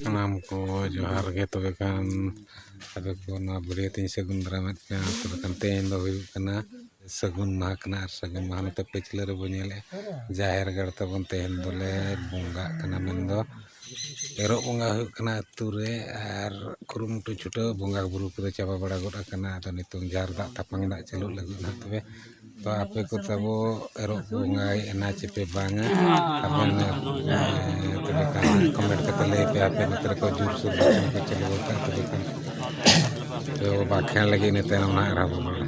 ᱥᱟᱱᱟᱢ ᱠᱚ ᱡᱚᱦᱟᱨ ᱜᱮ ᱛᱚᱵᱮ ᱠᱷᱟᱱ ᱟᱯᱮ ᱠᱚ ᱱᱚᱣᱟ ᱵᱟᱹᱨᱭᱟᱹᱛ ᱤᱧ ᱥᱟᱹᱜᱩᱱ ᱫᱟᱨᱟᱢᱮᱫ ᱯᱮᱭᱟ ᱛᱚᱵᱮ ᱠᱷᱟᱱ ᱛᱮᱦᱮᱧ ᱫᱚ ᱦᱩᱭᱩᱜ ᱠᱟᱱᱟ ᱥᱟᱹᱜᱩᱱ ᱢᱟᱦᱟ ᱠᱟᱱᱟ ᱟᱨ ᱥᱟᱹᱜᱩᱱ ᱢᱟᱦᱟ ᱱᱚᱛᱮ ᱯᱟᱹᱪᱷᱞᱟᱹ ᱨᱮᱵᱚᱱ ᱧᱮᱞᱮᱜᱼᱟ ᱡᱟᱦᱮᱨ ᱜᱟᱲ ᱛᱟᱵᱚᱱ ᱛᱮᱦᱮᱧ ᱫᱚᱞᱮ ᱵᱚᱸᱜᱟᱜ ᱠᱟᱱᱟ ᱢᱮᱱᱫᱚ ᱮᱨᱚᱜ ᱵᱚᱸᱜᱟ ᱦᱩᱭᱩᱜ ᱠᱟᱱᱟ ᱟᱹᱛᱩ ᱨᱮ ᱟᱨ ᱠᱩᱨᱩᱢᱩᱴᱩ ᱪᱷᱩᱴᱟᱹᱣ ᱵᱚᱸᱜᱟ ᱵᱳᱨᱳ ᱠᱚᱫᱚ ᱪᱟᱵᱟ ᱵᱟᱲᱟ ᱜᱚᱫ ᱠᱟᱱᱟ ᱟᱫᱚ ᱱᱤᱛᱚᱝ ᱡᱟᱦᱮᱨ ᱫᱟᱜ ᱛᱟᱯᱟᱝ ᱫᱟᱜ ᱪᱟᱹᱞᱩᱜ ᱞᱟᱹᱜᱤᱫ ᱦᱟᱸᱜ ᱛᱚᱵᱮ ᱛᱚ ᱟᱯᱮ ᱠᱚ ᱛᱟᱵᱚ ᱮᱨᱚᱜ ᱠᱚ ᱵᱚᱸᱜᱟᱭᱮᱜᱼᱟ ᱱᱟ ᱪᱮᱯᱮ ᱵᱟᱝᱟ ᱟᱵᱮᱱ ᱛᱚᱵᱮ ᱠᱷᱟᱱ ᱠᱚᱢᱮᱱᱴ ᱠᱟᱛᱮ ᱞᱟᱹᱭ ᱯᱮ ᱟᱯᱮ ᱱᱚᱛᱮ ᱨᱮᱠᱚ ᱡᱳᱨ ᱥᱳᱨ ᱵᱟᱠᱷᱟᱱ ᱠᱚ ᱪᱟᱹᱞᱩ ᱟᱠᱟᱫ ᱛᱚᱵᱮ ᱠᱷᱟᱱ ᱛᱚ ᱵᱟᱠᱷᱮᱬ ᱞᱟᱹᱜᱤᱫ ᱤᱱᱟᱹ ᱛᱟᱭᱱᱚᱢ ᱦᱟᱸᱜ ᱟᱨᱦᱚᱸ ᱵᱚᱱ ᱨᱚᱲᱟ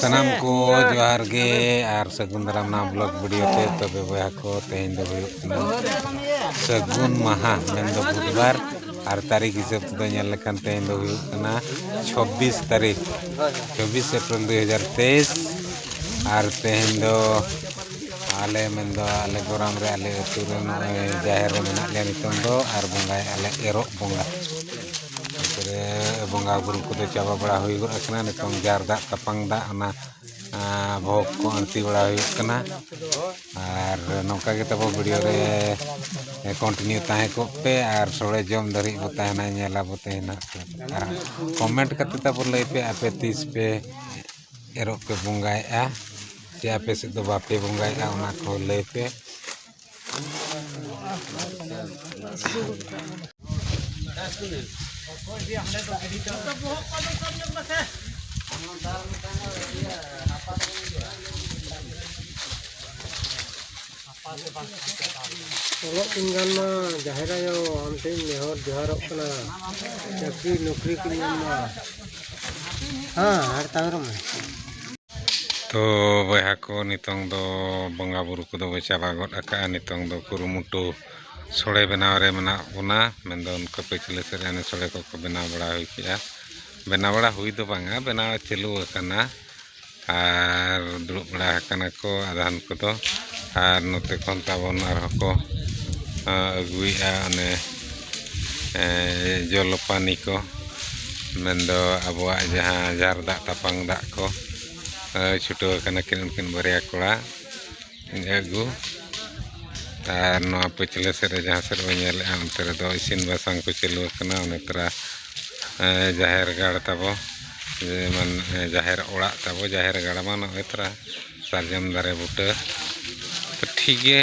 ᱥᱟᱱᱟᱢ ᱠᱚ ᱡᱚᱦᱟᱨ ᱜᱮ ᱟᱨ ᱥᱟᱹᱜᱩᱱ ᱫᱟᱨᱟᱢ ᱱᱚᱣᱟ ᱵᱞᱚᱜᱽ ᱵᱷᱤᱰᱤᱭᱳ ᱛᱮ ᱛᱚᱵᱮ ᱵᱚᱭᱦᱟ ᱠᱚ ᱛᱮᱦᱮᱧ ᱫᱚ ᱦᱩᱭᱩᱜ ᱠᱟᱱᱟ ᱥᱟᱹᱜᱩᱱ ᱢᱟᱦᱟ ᱢᱮᱱᱫᱚ ᱵᱩᱫᱷᱵᱟᱨ ᱟᱨ ᱛᱟᱹᱨᱤᱠᱷ ᱦᱤᱥᱟᱹᱵ ᱛᱮᱫᱚ ᱧᱮᱞ ᱞᱮᱠᱷᱟᱱ ᱛᱮᱦᱮᱧ ᱫᱚ ᱦᱩᱭᱩᱜ ᱠᱟᱱᱟ ᱪᱷᱚᱵᱵᱤᱥ ᱛᱟᱹᱨᱤᱠᱷ ᱪᱷᱚᱵᱵᱤᱥ ᱮᱯᱨᱤᱞ ᱫᱩᱭ ᱦᱟᱡᱟᱨ ᱛᱮᱭᱤᱥ ᱟᱨ ᱛᱮᱦᱮᱧ ᱫᱚ ᱟᱞᱮ ᱢᱮᱱᱫᱚ ᱟᱞᱮ ᱜᱚᱨᱟᱢ ᱨᱮ ᱟᱞᱮ ᱟᱹᱛᱩ ᱨᱮ ᱱᱚᱜᱼᱚᱭ ᱡᱟᱦᱮᱨ ᱨᱮ ᱢᱮᱱᱟᱜ ᱞᱮᱭᱟ ᱱᱤᱛᱚᱝ ᱫᱚ ᱟᱨ ᱵᱚᱸᱜᱟᱭᱮᱫᱼᱟ ᱞᱮ ᱮᱨᱚᱜ ᱵᱚᱸᱜᱟ ᱵᱚᱸᱜᱟ ᱵᱩᱨᱩ ᱠᱚᱫᱚ ᱪᱟᱵᱟ ᱵᱟᱲᱟ ᱦᱩᱭ ᱜᱚᱫ ᱠᱟᱱᱟ ᱱᱤᱛᱚᱝ ᱡᱟᱨ ᱫᱟᱜ ᱛᱟᱯᱟᱝ ᱫᱟᱜ ᱚᱱᱟ ᱵᱷᱳᱜᱽ ᱠᱚ ᱟᱹᱬᱛᱤ ᱵᱟᱲᱟ ᱦᱩᱭᱩᱜ ᱠᱟᱱᱟ ᱟᱨ ᱱᱚᱝᱠᱟ ᱜᱮ ᱛᱟᱵᱚ ᱵᱷᱤᱰᱤᱭᱳ ᱨᱮ ᱠᱚᱱᱴᱤᱱᱤᱭᱩ ᱛᱟᱦᱮᱸ ᱠᱚᱜ ᱯᱮ ᱟᱨ ᱥᱚᱲᱮ ᱡᱚᱢ ᱫᱷᱟᱹᱨᱤᱡ ᱵᱚ ᱛᱟᱦᱮᱱᱟ ᱧᱮᱞ ᱟᱵᱚ ᱛᱟᱦᱮᱱ ᱦᱟᱸᱜ ᱟᱨ ᱠᱚᱢᱮᱱᱴ ᱠᱟᱛᱮᱫ ᱛᱟᱵᱚ ᱞᱟᱹᱭ ᱯᱮ ᱟᱯᱮ ᱛᱤᱥ ᱯᱮ ᱮᱨᱚᱜ ᱯᱮ ᱵᱚᱸᱜᱟᱭᱮᱜᱼᱟ ᱪᱮ ᱟᱯᱮ ᱥᱮᱫ ᱫᱚ ᱵᱟᱯᱮ ᱵᱚᱸᱜᱟᱭᱮᱜᱼᱟ ᱚᱱᱟ ᱠᱚ ᱞᱟᱹᱭ ᱯᱮ ᱚᱞᱚᱜ ᱠᱤᱱ ᱜᱟᱱ ᱢᱟ ᱡᱟᱦᱮᱨ ᱟᱭᱳ ᱟᱢ ᱴᱷᱮᱱ ᱱᱮᱦᱚᱨ ᱡᱚᱦᱟᱨᱚᱜ ᱠᱟᱱᱟ ᱪᱟᱹᱠᱨᱤ ᱱᱚᱠᱨᱤ ᱠᱤᱱ ᱧᱟᱢ ᱢᱟ ᱦᱮᱸ ᱟᱨ ᱛᱟᱭᱚᱢ ᱛᱚ ᱵᱚᱭᱦᱟ ᱠᱚ ᱱᱤᱛᱚᱝ ᱫᱚ ᱵᱚᱸᱜᱟ ᱵᱩᱨᱩ ᱠᱚᱫᱚ ᱵᱚ ᱪᱟᱵᱟ ᱜᱚᱫ ᱟᱠᱟᱜᱼᱟ ᱱᱤᱛᱚᱝ ᱫᱚ ᱠᱩᱨᱩᱢᱩᱴᱩ ᱥᱳᱲᱮ ᱵᱮᱱᱟᱣ ᱨᱮ ᱢᱮᱱᱟᱜ ᱵᱚᱱᱟ ᱢᱮᱱᱫᱚ ᱚᱱᱠᱟ ᱯᱟᱹᱪᱷᱞᱟᱹ ᱥᱮᱫ ᱨᱮ ᱦᱟᱱᱮ ᱥᱳᱲᱮ ᱠᱚᱠᱚ ᱵᱮᱱᱟᱣ ᱵᱟᱲᱟ ᱦᱩᱭ ᱠᱮᱜᱼᱟ ᱵᱮᱱᱟᱣ ᱵᱟᱲᱟ ᱦᱩᱭ ᱫᱚ ᱵᱟᱝᱟ ᱵᱮᱱᱟᱣ ᱪᱟᱹᱞᱩ ᱟᱠᱟᱱᱟ ᱟᱨ ᱫᱩᱲᱩᱵ ᱵᱟᱲᱟ ᱟᱠᱟᱱᱟ ᱠᱚ ᱟᱫᱷᱟᱱ ᱠᱚᱫᱚ ᱟᱨ ᱱᱚᱛᱮ ᱠᱷᱚᱱ ᱛᱟᱵᱚᱱ ᱟᱨᱦᱚᱸ ᱠᱚ ᱟᱹᱜᱩᱭᱮᱜᱼᱟ ᱚᱱᱮ ᱡᱚᱞᱚᱯᱟᱱᱤ ᱠᱚ ᱢᱮᱱᱫᱚ ᱟᱵᱚᱣᱟᱜ ᱡᱟᱦᱟᱸ ᱡᱟᱨ ᱫᱟᱜ ᱛᱟᱯᱟᱱ ᱫᱟᱜ ᱠᱚ ᱪᱷᱩᱴᱟᱹᱣ ᱠᱟᱱᱟ ᱠᱤᱱ ᱩᱱᱠᱤᱱ ᱵᱟᱨᱭᱟ ᱠᱚᱲᱟ ᱟᱹᱜᱩ ᱟᱨ ᱱᱚᱣᱟ ᱯᱟᱹᱪᱷᱞᱟᱹ ᱥᱮᱫ ᱨᱮ ᱡᱟᱦᱟᱸ ᱥᱮᱫ ᱵᱚᱱ ᱧᱮᱞᱮᱫᱼᱟ ᱚᱱᱛᱮ ᱨᱮᱫᱚ ᱤᱥᱤᱱ ᱵᱟᱥᱟᱝ ᱠᱚ ᱪᱟᱹᱞᱩ ᱟᱠᱟᱱᱟ ᱚᱱᱟ ᱛᱚᱨᱟ ᱡᱟᱦᱮᱨ ᱜᱟᱲ ᱛᱟᱵᱚ ᱡᱮᱢᱚᱱ ᱡᱟᱦᱮᱨ ᱚᱲᱟᱜ ᱛᱟᱵᱚ ᱡᱟᱦᱮᱨ ᱜᱟᱲ ᱢᱟ ᱱᱚᱜᱼᱚᱸᱭ ᱛᱚᱨᱟ ᱥᱟᱨᱡᱚᱢ ᱫᱟᱨᱮ ᱵᱩᱴᱟᱹ ᱴᱷᱤᱠ ᱜᱮ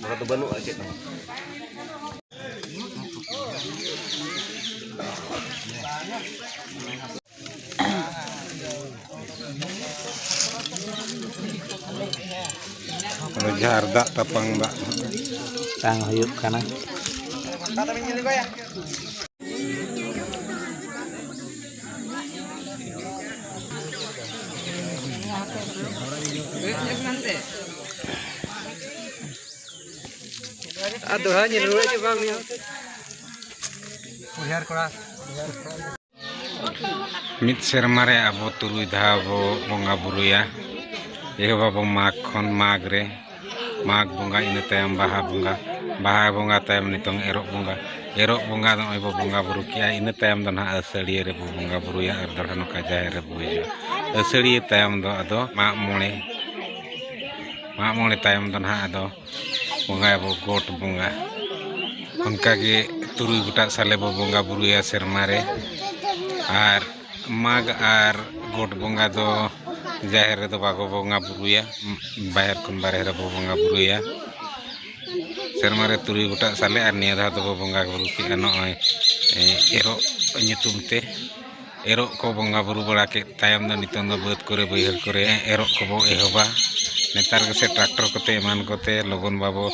ᱱᱚᱰᱮ ᱫᱚ ᱵᱟᱹᱱᱩᱜᱼᱟ ᱪᱮᱫ ᱦᱚᱸ ᱡᱷᱟᱨ ᱫᱟᱜ ᱛᱟᱯᱟᱝ ᱫᱟᱜ ᱛᱟᱝ ᱦᱩᱭᱩᱜ ᱠᱟᱱᱟ ᱟᱨ ᱫᱚᱲᱦᱟ ᱧᱮᱞ ᱨᱩᱣᱟᱹᱲ ᱦᱤᱡᱩᱜ ᱵᱟᱝ ᱦᱩᱭᱩᱜᱼᱟ ᱩᱭᱦᱟᱹᱨ ᱠᱚᱲᱟ ᱢᱤᱫ ᱥᱮᱨᱢᱟ ᱨᱮ ᱟᱵᱚ ᱛᱩᱨᱩᱭ ᱫᱷᱟᱣ ᱵᱚ ᱵᱚᱸᱜᱟ ᱵᱩᱨᱩᱭᱟ ᱮᱦᱚᱵᱟᱵᱚ ᱢᱟᱜᱽ ᱠᱷᱚᱱ ᱢᱟᱜᱽ ᱨᱮ ᱢᱟᱜᱽ ᱵᱚᱸᱜᱟ ᱤᱱᱟᱹ ᱛᱟᱭᱚᱢ ᱵᱟᱦᱟ ᱵᱚᱸᱜᱟ ᱵᱟᱦᱟ ᱵᱚᱸᱜᱟ ᱛᱟᱭᱚᱢ ᱱᱤᱛᱚᱝ ᱮᱨᱚᱜ ᱵᱚᱸᱜᱟ ᱮᱨᱚᱜ ᱵᱚᱸᱜᱟ ᱱᱚᱜᱼᱚᱭ ᱵᱚᱱ ᱵᱚᱸᱜᱟᱼᱵᱩᱨᱩ ᱠᱮᱜᱼᱟ ᱤᱱᱟᱹ ᱛᱟᱭᱚᱢ ᱫᱚ ᱦᱟᱸᱜ ᱟᱹᱥᱟᱹᱲᱤᱭᱟᱹ ᱨᱮᱵᱚᱱ ᱵᱚᱸᱜᱟᱼᱵᱩᱨᱩᱭᱟ ᱟᱨ ᱫᱚᱲᱦᱟ ᱱᱚᱝᱠᱟ ᱡᱟᱦᱮᱨ ᱨᱮᱵᱚᱱ ᱦᱤᱡᱩᱜᱼᱟ ᱟᱹᱥᱟᱹᱲᱤᱭᱟᱹ ᱛᱟᱭᱚᱢ ᱫᱚ ᱟᱫᱚ ᱢᱟᱜ ᱢᱚᱬᱮ ᱢᱟᱜ ᱢᱚᱬᱮ ᱛᱟᱭᱚᱢ ᱫᱚ ᱦᱟᱸᱜ ᱟᱫᱚ ᱵᱚᱸᱜᱟᱭᱟᱵᱚᱱ ᱜᱚᱴ ᱵᱚᱸᱜᱟ ᱚᱱᱠᱟᱜᱮ ᱛᱩᱨᱩᱭ ᱜᱚᱴᱟᱜ ᱥᱟᱞᱮ ᱵᱚᱱ ᱵᱚᱸᱜᱟᱼᱵᱩᱨᱩᱭᱟ ᱥᱮᱨᱢᱟ ᱨᱮ ᱟᱨ ᱢᱟᱜᱽ ᱟᱨ ᱜᱚᱴ ᱵᱚᱸᱜᱟ ᱫᱚ ᱡᱟᱦᱮᱨ ᱨᱮᱫᱚ ᱵᱟᱠᱚ ᱵᱚᱸᱜᱟ ᱵᱳᱨᱳᱭᱟ ᱵᱟᱦᱮᱨ ᱠᱷᱚᱱ ᱵᱟᱦᱨᱮ ᱨᱮᱵᱚ ᱵᱚᱸᱜᱟ ᱵᱳᱨᱳᱭᱟ ᱥᱮᱨᱢᱟ ᱨᱮ ᱛᱩᱨᱩᱭ ᱜᱚᱴᱟᱜ ᱥᱟᱞᱮ ᱟᱨ ᱱᱤᱭᱟᱹ ᱫᱷᱟᱣ ᱫᱚᱵᱚ ᱵᱚᱸᱜᱟ ᱵᱳᱨᱳ ᱠᱮᱜᱼᱟ ᱱᱚᱜᱼᱚᱭ ᱮᱨᱚᱜ ᱧᱩᱛᱩᱢ ᱛᱮ ᱮᱨᱚᱜ ᱠᱚ ᱵᱚᱸᱜᱟ ᱵᱳᱨᱳ ᱵᱟᱲᱟ ᱠᱮᱫ ᱛᱟᱭᱚᱢ ᱫᱚ ᱱᱤᱛᱚᱝ ᱫᱚ ᱵᱟᱹᱫᱽ ᱠᱚᱨᱮ ᱵᱟᱹᱭᱦᱟᱹᱲ ᱠᱚᱨᱮ ᱮᱨᱚᱜ ᱠᱚᱵᱚ ᱮᱦᱚᱵᱟ ᱱᱮᱛᱟᱨ ᱜᱮᱥᱮ ᱴᱨᱟᱠᱴᱚᱨ ᱠᱚᱛᱮ ᱮᱢᱟᱱ ᱠᱚᱛᱮ ᱞᱚᱜᱚᱱ ᱵᱟᱵᱚ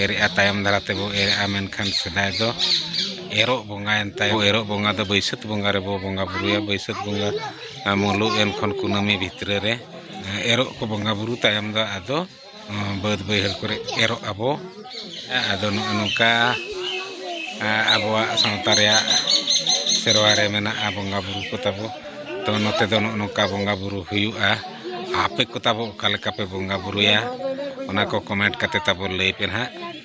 ᱮᱨᱮᱜᱼᱟ ᱛᱟᱭᱚᱢ ᱫᱟᱨᱟ ᱛᱮᱵᱚ ᱮᱨᱮᱜᱼᱟ ᱢᱮᱱᱠᱷᱟᱱ ᱥᱮᱫᱟᱭ ᱫᱚ ᱮᱨᱚᱜ ᱵᱚᱸᱜᱟᱭᱮᱱ ᱛᱟᱭᱚᱢ ᱮᱨᱚᱜ ᱵᱚᱸᱜᱟ ᱫᱚ ᱵᱟᱹᱭᱥᱟᱹᱠᱷ ᱵᱚᱸᱜᱟ ᱨᱮᱵᱚ ᱵᱚᱸᱜᱟ ᱵᱩᱨᱩᱭᱟ ᱵᱟᱹᱭᱥᱟᱹᱠᱷ ᱵᱚᱸᱜᱟ ᱢᱩᱞᱩᱜ ᱮᱱ ᱠᱷᱚᱱ ᱠᱩᱱᱟᱹᱢᱤ ᱵᱷᱤᱛᱨᱤ ᱨᱮ ᱮᱨᱚᱜ ᱠᱚ ᱵᱚᱸᱜᱟ ᱵᱩᱨᱩ ᱛᱟᱭᱚᱢ ᱫᱚ ᱟᱫᱚ ᱵᱟᱹᱫᱽ ᱵᱟᱹᱭᱦᱟᱹᱲ ᱠᱚᱨᱮ ᱮᱨᱚᱜ ᱟᱵᱚ ᱟᱫᱚ ᱱᱚᱜᱼᱚ ᱱᱚᱝᱠᱟ ᱟᱵᱚᱣᱟᱜ ᱥᱟᱶᱛᱟ ᱨᱮᱭᱟᱜ ᱥᱮᱨᱣᱟ ᱨᱮ ᱢᱮᱱᱟᱜᱼᱟ ᱵᱚᱸᱜᱟ ᱵᱩᱨᱩ ᱠᱚ ᱛᱟᱵᱚ ᱛᱚ ᱱᱚᱛᱮ ᱫᱚ ᱱᱚᱜᱼᱚ ᱱᱚᱝᱠᱟ ᱵᱚᱸᱜᱟ ᱵᱩᱨᱩ ᱦᱩᱭᱩᱜᱼᱟ ᱟᱯᱮ ᱠᱚ ᱛᱟᱵᱚ ᱚᱠᱟ ᱞᱮᱠᱟ ᱯᱮ ᱵᱚᱸᱜᱟ ᱵᱩᱨᱩᱭᱟ ᱚᱱᱟ ᱠᱚ ᱠᱚᱢᱮᱱᱴ ᱠᱟᱛᱮᱫ ᱛᱟᱵᱚ ᱞᱟᱹᱭ ᱯᱮ ᱱᱟᱦᱟᱜ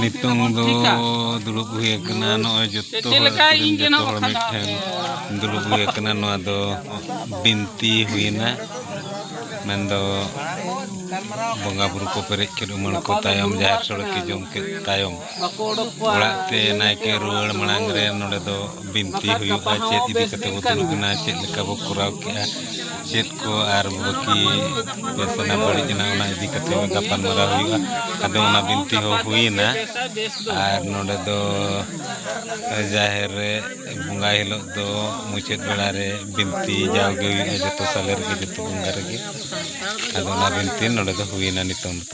ᱱᱤᱛᱚᱝ ᱫᱚ ᱫᱩᱲᱩᱵ ᱦᱩᱭ ᱟᱠᱟᱱᱟ ᱱᱚᱜᱼᱚᱭ ᱡᱚᱛᱚ ᱦᱚᱲ ᱡᱚᱛᱚ ᱦᱚᱲ ᱢᱤᱫᱴᱷᱮᱱ ᱫᱩᱲᱩᱵ ᱦᱩᱭ ᱟᱠᱟᱱᱟ ᱱᱚᱣᱟ ᱫᱚ ᱵᱤᱱᱛᱤ ᱦᱩᱭᱮᱱᱟ ᱢᱮᱱᱫᱚ ᱵᱚᱸᱜᱟ ᱵᱩᱨᱩ ᱠᱚ ᱯᱮᱨᱮᱡ ᱠᱮᱫ ᱩᱢᱟᱹᱲ ᱠᱚ ᱛᱟᱭᱚᱢ ᱡᱟᱦᱮᱨ ᱥᱳᱲᱮ ᱠᱚ ᱡᱚᱢ ᱠᱮᱫ ᱛᱟᱭᱚᱢ ᱚᱲᱟᱜ ᱛᱮ ᱱᱟᱭᱠᱮ ᱨᱩᱣᱟᱹᱲ ᱢᱟᱲᱟᱝ ᱨᱮ ᱱᱚᱰᱮ ᱫᱚ ᱵᱤᱱᱛᱤ ᱦᱩᱭᱩᱜᱼᱟ ᱪᱮᱫ ᱤᱫᱤ ᱠᱟᱛᱮ ᱵᱚ ᱫᱩᱲᱩᱵ ᱮᱱᱟ ᱪᱮᱫ ᱞᱮᱠᱟ ᱵᱚ ᱠᱚᱨᱟᱣ ᱠᱮᱜᱼᱟ ᱪᱮᱫ ᱠᱚ ᱟᱨ ᱵᱟᱹᱠᱤ ᱵᱮᱥ ᱮᱱᱟ ᱵᱟᱹᱲᱤᱡ ᱮᱱᱟ ᱚᱱᱟ ᱤᱫᱤ ᱠᱟᱛᱮ ᱜᱟᱯᱟᱞ ᱢᱟᱨᱟᱣ ᱦᱩᱭᱩᱜᱼᱟ ᱟᱫᱚ ᱚᱱᱟ ᱵᱤᱱᱛᱤ ᱦᱚᱸ ᱦᱩᱭᱮᱱᱟ ᱟᱨ ᱱᱚᱰᱮ ᱫᱚ ᱡᱟᱦᱮᱨ ᱨᱮ ᱵᱚᱸᱜᱟ ᱦᱤᱞᱳᱜ ᱫᱚ ᱢᱩᱪᱟᱹᱫ ᱵᱮᱲᱟ ᱨᱮ ᱵᱤᱱᱛᱤ ᱡᱟᱣᱜᱮ ᱦᱩᱭᱩᱜᱼᱟ ᱡᱚᱛᱚ ᱥᱟᱞᱮ ᱨᱮᱜᱮ ᱡᱚᱛᱚ ᱵᱚᱸᱜᱟ ᱨᱮᱜᱮ ᱟᱫᱚ ᱚᱱᱟ ᱵᱤᱱᱛᱤ ᱱᱚᱰᱮ ᱫᱚ ᱦᱩᱭᱮᱱᱟ ᱱᱤᱛᱚᱝ ᱫᱚ